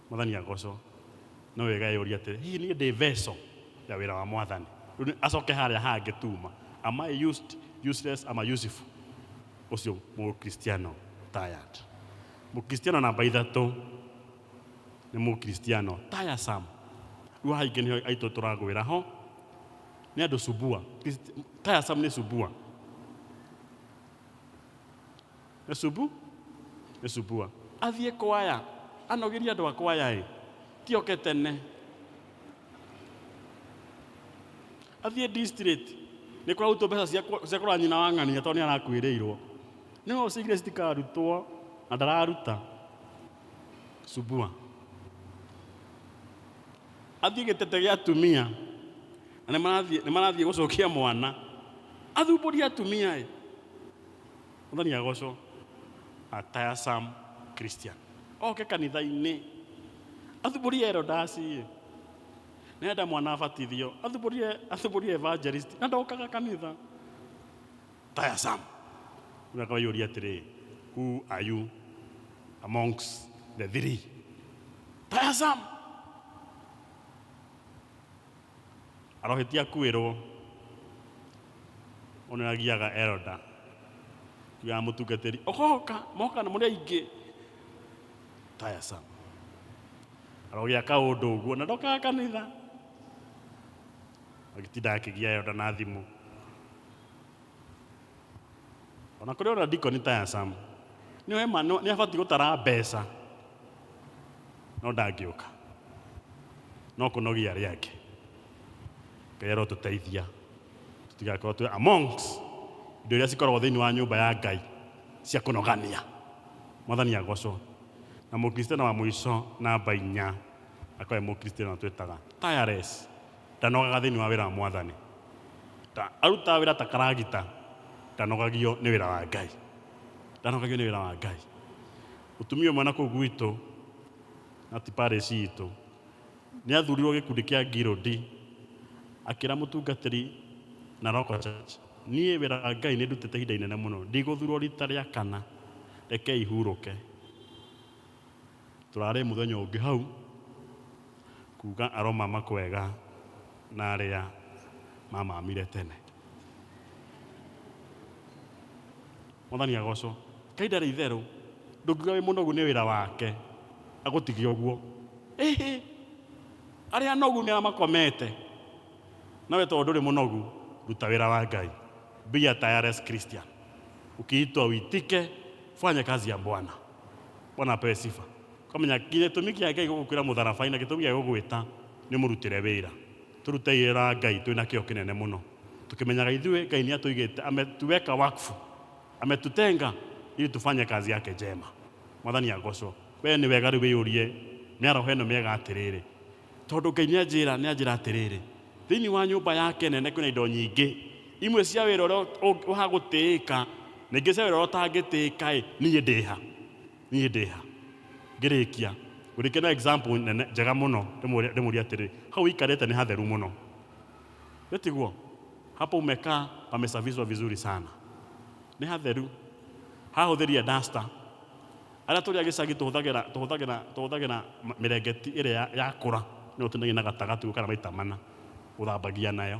Mwathani agocwo. No wega eyũria atĩrĩ, hihi niĩ ndĩ vessel ya wĩra wa Mwathani? Rĩu nĩ- acoke harĩa hangĩ tuma. Am I used, useless, ama useful? Ũcio mũkristiano tired. Mũkristiano namba ithatũ nĩ mũkristiano tiresome. Rĩu haha ingĩ nĩho aitũ tũragwĩra ho nĩ andũ subua. Christ- Tiresome nĩ subua. Nĩcubu, nĩcubua. Athiĩ kwaya, anogirie andũ a kwaya ĩ, ti oke tene. Athiĩ district, nĩ kũrarutwo mbeca cia kũ- cia kũrora nyina wa ng'ania tondũ nĩ arakuĩrĩirwo. Nĩwe ũcigire citikarutwo na ndararuta. Cubua. Athiĩ gĩtete gĩa atumia, na nĩ marathiĩ nĩ marathiĩ gũcokia mwana. Athumbũria atumia ĩ, Mwathani agocwo. A tiresome Christian. Oke kanitha-inĩ. Athubũrie erodasi ĩ. Nĩ enda mwana abatithio. Athubũrie, athubũrie evangelist. Na ndokaga kanitha. Tiresome. Rĩu akaiyũria atĩrĩ, who are you amongst the three? Tiresome. Arohĩtia kwĩrwo ũnĩ agiaga elder kiugaga mũtungatĩri ũgoka moka na mũrĩ aingĩ tiresome arogĩa kaũndũ ũguo na ndokaga kanitha agĩtinda akĩgia elder na thimũ ona kũrĩ ũrĩa ndiko nĩ ta ya sam nĩ wema nĩ abatiĩ gũtara mbeca no ndangĩũka no kũnogia arĩa angĩ ngai arotũteithia tũtigakorwo twĩ amongst indo iria cikoragwo thĩinĩ wa nyũmba ya ngai cia kũnogania mwathani agocwo na mũkristiano wa mũico namba inya akoe mũkristiano twĩtaga tireless ndanogaga thĩinĩ wa wĩra wa mwathani. Ta arutaga wĩra ta karagita, ndanogagio nĩ wĩra wa Ngai. Ndanogagio nĩ wĩra wa Ngai. Mũtumia ũmwe na kũu gwitũ, na ti Paris itũ, nĩ athurirwo gĩkundi kĩa Ngirũndi, akĩra mũtungatĩri na Roko Church, niĩ wĩra wa Ngai nĩ ndutĩte ihinda inene mũno, ndigũthurwo rita rĩa kana, rekei hurũke. Tũrarĩ mũthenya ũngĩ hau, kuuga aroma makwega na arĩa mamamire tene. Mwathani agocwo. Ngai ndarĩ itherũ. Ndũngiuga wĩ mũnogu nĩ wĩra wake agũtige ũguo. Ĩhĩ! Arĩa anogu nĩ arĩa makomete. Nawe tondũ ndũrĩ mũnogu, ruta wĩra wa Ngai. Be a tireless Christian. Ukiitwa uitike, fanya kazi ya Bwana. Bwana apewe sifa. Kamenya gĩtũmi kĩake gĩgũkwĩra mũtharabainĩ gĩtũmi gĩa gũgwĩta nĩ mũrutĩre wĩra. Tũrutei wĩra wa Ngai twĩ na kĩyo kĩnene mũno. Tũkĩmenyaga ithuĩ Ngai nĩatũigĩte ametuweka wakfu. Ametutenga ili tufanye kazi yake njema. Mwathani agocwo. We nĩ wega rĩu wĩyũrie mĩaraho ĩno mĩega atĩrĩrĩ, Tondũ Ngai nĩanjĩra nĩanjĩra atĩrĩrĩ, Thĩinĩ wa nyũmba yake nene kwĩna indo nyingĩ, imwe cia wĩra ũrĩa ũng- wa gũtĩĩka, na ingĩ cia wĩra ũrĩa ũtangĩtĩĩka-ĩ, niĩ ndĩ ha? Niĩ ndĩ ha? Ngĩrĩkia, ngũrĩkia na example nene njega mũno, ndĩmũũrie ndĩmũũrie atĩrĩ, hau ũikarĩte nĩ hatheru mũno? Ĩ tiguo? Hapo umekaa pamesafishwa vizuri sana. Nĩ hatheru. Hahũthĩrie duster. Arĩa tũrĩ a gĩcagi tũhũthagĩra tũhũthagĩra tũhũthagĩra mĩrengeti ĩrĩa yakũra nĩyo tũtinagia na gatagatĩ gũkara maita mana gũthambagia nayo.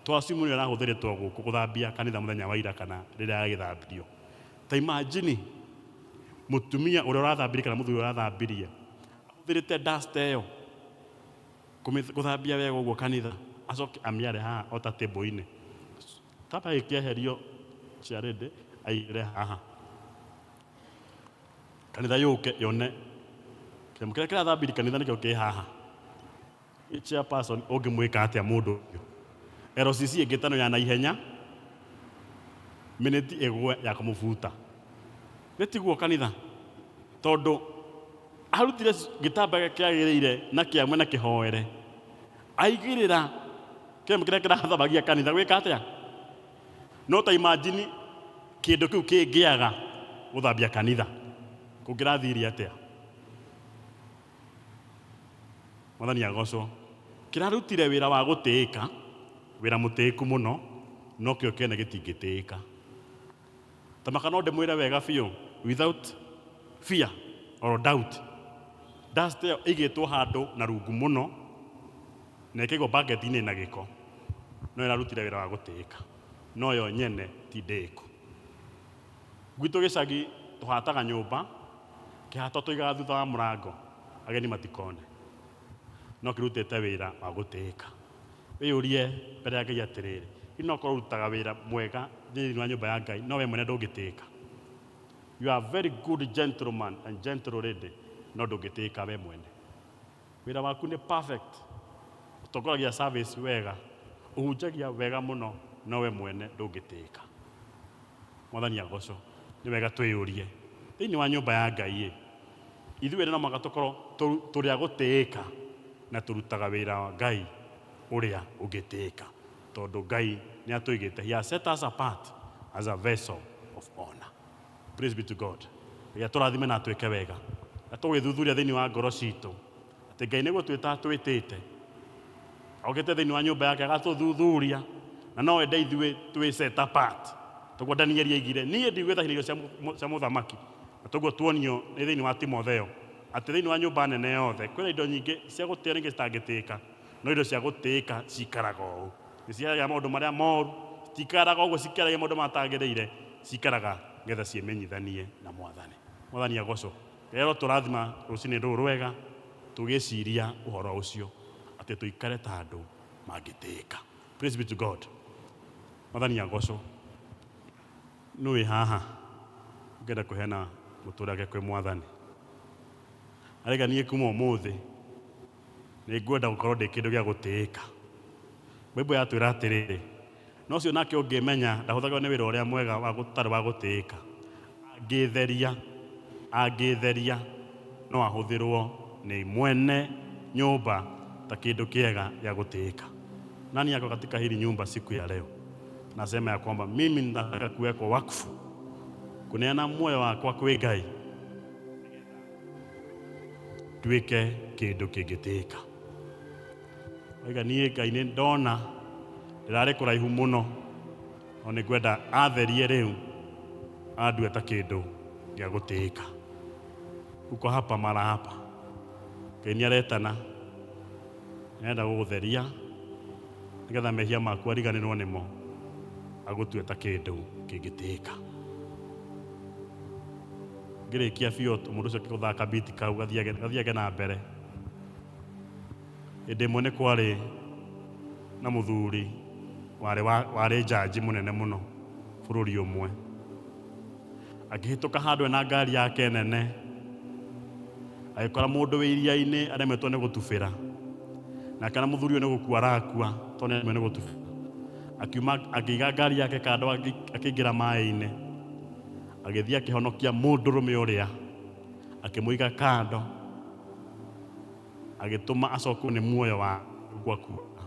Twacimu nĩyo ĩrahũthĩrĩtwo gũkũ gũthambia kanitha mũthenya wa ira kana rĩrĩa yagĩthambirio. Ta imagine mũtumia ũrĩa ũrathambirie kana mũthuri ũrĩa ũrathambirie ahũthĩrĩte duster ĩyo gũthambia wega ũguo kanitha acoke amĩare haha o ta table-inĩ. Kaba gĩkĩeherio chair lady aigĩrĩre haha. kanitha yũke yone kĩremũ kĩrĩa kĩrathambiri kanitha nĩkĩo kĩ haha Ĩ chairperson ũngĩmwĩka atĩa mũndũ ũyũ LCC ĩngĩtano ya naihenya minĩti ĩgwe ya kũmũbuta nĩ tiguo kanitha tondũ arutire gĩtambaya kĩagĩrĩire na kĩamwe na kĩhoere aigĩrĩra kĩremũ kĩrĩa kĩrathambagia kanitha gwĩka atĩa No ta imagine kĩndũ kĩu kĩngĩaga gũthambia kanitha, kũngĩrathiire atĩa? Mwathani agocwo. Kĩrarutire wĩra wa gũtĩĩka, wĩra mũtĩĩku mũno, no kĩo kĩene gĩtingĩtĩĩka. Ta maka no ndĩmwĩre wega biũ, without fear or doubt, dust ĩyo ĩigĩtwo handũ na rungu mũno, Na ĩkĩgwo bucket-inĩ ĩna gĩko, no ĩrarutire wĩra wa gũtĩĩka, no yo nyene ti ndĩĩku. Gwitũ gĩcagi tũhataga nyũmba, kĩhato tũigaga thutha wa mũrango ageni matikone, no kĩrutĩte wĩra wa gũtĩĩka. Wĩyũrie mbere ya Ngai atĩrĩrĩ, hihi no ũkorwo ũrutaga wĩra mwega thĩinĩ wa nyũmba ya Ngai no we mwene ndũngĩtĩĩka? You are very good gentleman and gentle lady no ndũngĩtĩĩka we mwene. Wĩra waku nĩ perfect. Ũtongoragia service wega. Ũhunjagia wega mũno no we mwene ndũngĩtĩĩka. Mwathani agocwo. Nĩ wega twĩyũrie, thĩinĩ wa nyũmba ya Ngai-ĩ, ithuĩ ene no mũhaka tũkorwo tũrĩ a gũtĩĩka na tũrutaga wĩra wa Ngai ũrĩa ũngĩtĩĩka tondũ Ngai nĩatũigĩte, he has set us apart as a vessel of honour. Praise be to God. Ngai atũrathime na atwĩke wega. Na tũgĩthuthuria thĩinĩ wa ngoro citũ atĩ Ngai nĩ gũtwĩta atwĩtĩte. Ogĩte thĩinĩ wa nyũmba yake agatũthuthuria na no enda ithuĩ twĩ set apart. Toguo Danieli aigire niĩ ndigwĩtha irio cia mũ- mũ- cia mũthamaki. Na toguo tuonio nĩ thĩinĩ wa Timotheo atĩ thĩinĩ wa nyũmba nene yothe kwĩna indo nyingĩ cia gũtĩa na ingĩ citangĩtĩĩka. no indo cia gũtĩĩka cikaraga ũũ. Nĩ ciaragia maũndũ marĩa moru, citikaraga ũguo cikĩaragia maũndũ matagĩrĩire, cikaraga nĩgetha ciĩmenyithanie na Mwathani. Mwathani agocwo. Rĩrĩa ũratũrathima rũcinĩ rũrũ rwega, tũgĩciria ũhoro ũcio, atĩ tũikare ta andũ mangĩtĩĩka. Praise be to God. Mwathani agocwo. Nũ wĩ haha ũngĩenda kũheana mũtũrĩre wake kwĩ Mwathani? Areganie kuma ũmũthĩ. Nĩ ngwenda gũkorwo ndĩ kĩndũ gĩa gũtĩĩka. Bible yatwĩra atĩrĩrĩ, Na ũcio nake ũngĩĩmenya ndahũthagĩrwo nĩ wĩra ũrĩa mwega wa ũtarĩ wa gũtĩĩka, angĩĩtheria, angĩĩtheria, no ahũthĩrwo nĩ mwene nyũmba ta kĩndũ kĩega gĩa gũtĩĩka. Nani ako katika hili nyumba siku ya leo nasema ya kwamba mimi ninataka kuwekwa wakfu, kuneana muoyo wakwa kwĩ Ngai. nduĩke kĩndũ kĩngĩtĩĩka oiga niĩ ngai nĩ ndona ndĩrarĩ kũraihu mũno no nĩ ngwenda atherie rĩu andue ta kĩndũ gĩa gũtĩĩka uko hapa mara hapa ngai nĩ aretana nĩarenda gũgũtheria nĩgetha mehia maku ariganĩrwo nĩmo agũtue ta kĩndũ kĩngĩtĩĩka ngĩrĩkia biũ t- mũndũ ũcio gũthaka biti kau gathiage gathiage na mbere hĩndĩ ĩmwe nĩ kwarĩ na mũthuri warĩ wa- warĩ njanji mũnene mũno bũrũri ũmwe akĩhĩtũka handũ ena ngari yake nene agĩkora mũndũ wĩ iria-inĩ aremetwo nĩ gũtubĩra nake na mũthuri ũyũ nĩ gũkua arakua tondũ nĩ aremetwo nĩ gũtubĩra akiuma akĩiga ngari yake kando agĩ- akĩingĩra maĩ-inĩ agĩthiĩ akĩhonokia mũndũrũme ũrĩa akĩmũiga kando agĩtũma acokwo nĩ muoyo wa gwa kuoka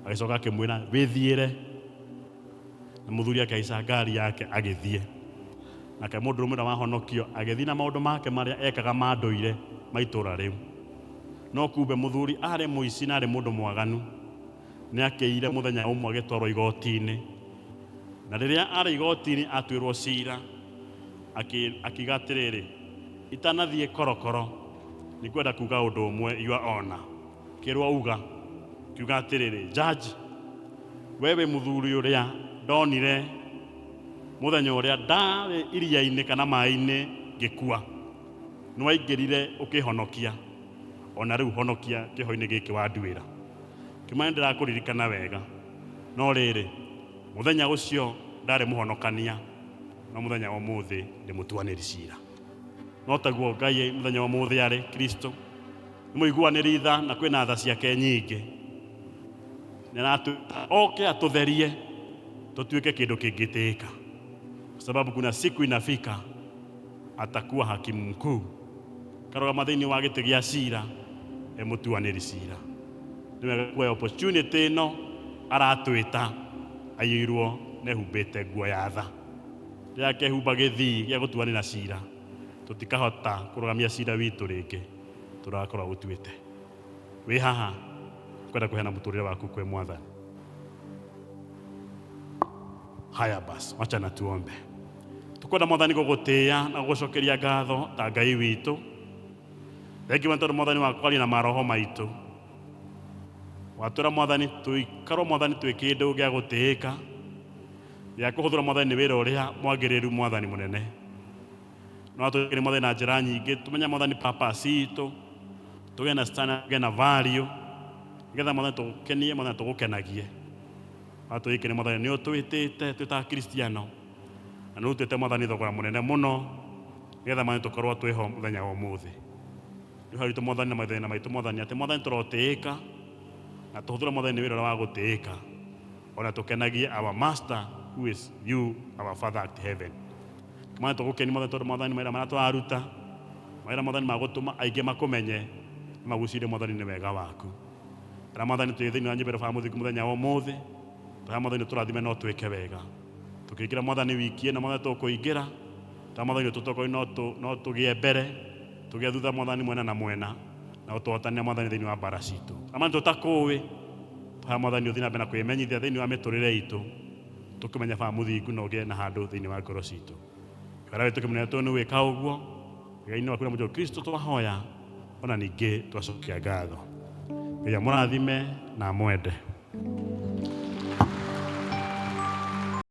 agĩcoka akĩmwĩra wĩthiĩre na mũthuri akĩhaica ngari yake agĩthiĩ nake mũndũrũme ũrĩa wahonokio agĩthiĩ na maũndũ make marĩa ekaga ma ndũire ma itũũra rĩu no kumbe mũthuri arĩ mũici na arĩ mũndũ mwaganu nĩ akĩire mũthenya ũmwe agĩtwarwo igoti-inĩ na rĩrĩa arĩ igoti-inĩ atuĩrwo cira akĩ- akiuga atĩrĩrĩ itanathiĩ korokoro nĩ ngwenda kuga ũndũ ũmwe iwa ona kĩrwo uga kiuga atĩrĩrĩ njanji we wĩ mũthuri ũrĩa ndonire mũthenya ũrĩa ndarĩ iria-inĩ kana maĩ-inĩ ngĩkua nĩwaingĩrire ũkĩhonokia ona rĩu honokia kĩho-inĩ gĩkĩ wanduĩra Kĩmwe nĩ ndĩrakũririkana wega. No rĩrĩ, mũthenya ũcio ndarĩ mũhonokania, no mũthenya wa ũmũthĩ ndĩ mũtuanĩri cira. No taguo Ngai mũthenya wa ũmũthĩ arĩ, Kristo, nĩ mũiguanĩri tha na kwĩna tha ciake nyingĩ. Nĩ aratwĩta oke atũtherie tũtuĩke kĩndũ kĩngĩtĩĩka, kwa sababu kuna siku inafika Atakuwa hakimu mkuu, karũgama thĩinĩ wa gĩtĩ gĩa cira e mũtuanĩri cira. Nĩ wega kuoya opportunity ĩno aratwĩta, aiyũirwo na ehumbĩte nguo ya tha. Rĩrĩa akehumba gĩthii gĩa gũtuanĩra cira, tũtikahota kũrũgamia cira witũ rĩngĩ tũrĩa akorwo agũtuĩte. wĩ haha kwenda kũheana mũtũrĩre waku kwĩ mwathani haya basi wacha na tuombe tukwenda mwathani gũgũtĩĩa na gũgũcokeria ngatho ta ngai witũ thengiwa nĩ tondũ mwathani wakwaria na maroho maitũ watwĩra mwathani tũikarwo mwathani twĩ kĩndũ gĩa gũtĩĩka gĩa kũhũthĩra mwathani nĩ wĩra ũrĩa mwagĩrĩru mwathani mũnene no tũkĩrĩ mothe na njĩra nyingĩ tũmenya mwathani papa citũ tũgĩe na stana tũgĩe na value nĩgetha mwathani tũgũkenie mwathani tũgũkenagie na tũgĩkene mwathani nĩ ũtwĩtĩte twĩ ta kristiano na nĩ ũtwĩte mwathani thogora mũnene mũno nĩgetha mwathani tũkorwo twĩho mũthenya wa ũmũthĩ nĩ haritũ mwathani na mathĩna maitũ mwathani atĩ mwathani tũrotĩĩka na tũhũthĩre mwathani wĩra ũrĩa wa gũtĩĩka ona tũkenagie our master who is you our father at heaven Mwathani togokeni, Mwathani tore Mwathani maira maria twaruta, maira Mwathani magotoma aige makomenye, magusirie Mwathani ne wega waku. Era Mwathani toye thĩinĩ wa nyũmba ero baba mũthingu mũthenya wa ũmũthĩ, tũrĩa Mwathani ũtũrathime na ũtwĩke wega. Tũkĩingĩra Mwathani wiki ĩno Mwathani tũkũingĩra, tũrĩa Mwathani ũtũtokoi no tũ- no tũgĩe mbere, tũgĩe thutha Mwathani mwena na mwena, na ũtũhotanĩre Mwathani thĩinĩ wa mbara citũ. Amani tũtakũĩ, tũrĩa Mwathani ũthiĩ na mbere na kwĩmenyithia thĩinĩ wa mĩtũrĩre itũ, tũkĩmenya baa mũthingu na ũgĩe na handũ thĩinĩ wa ngoro citũ wera witũ kĩmũnene tondũ nĩ wĩka ũguo wĩra-inĩ waku na mũjũ kristo twahoya ona ningĩ twacokia ngatho ngai amũrathime na amwende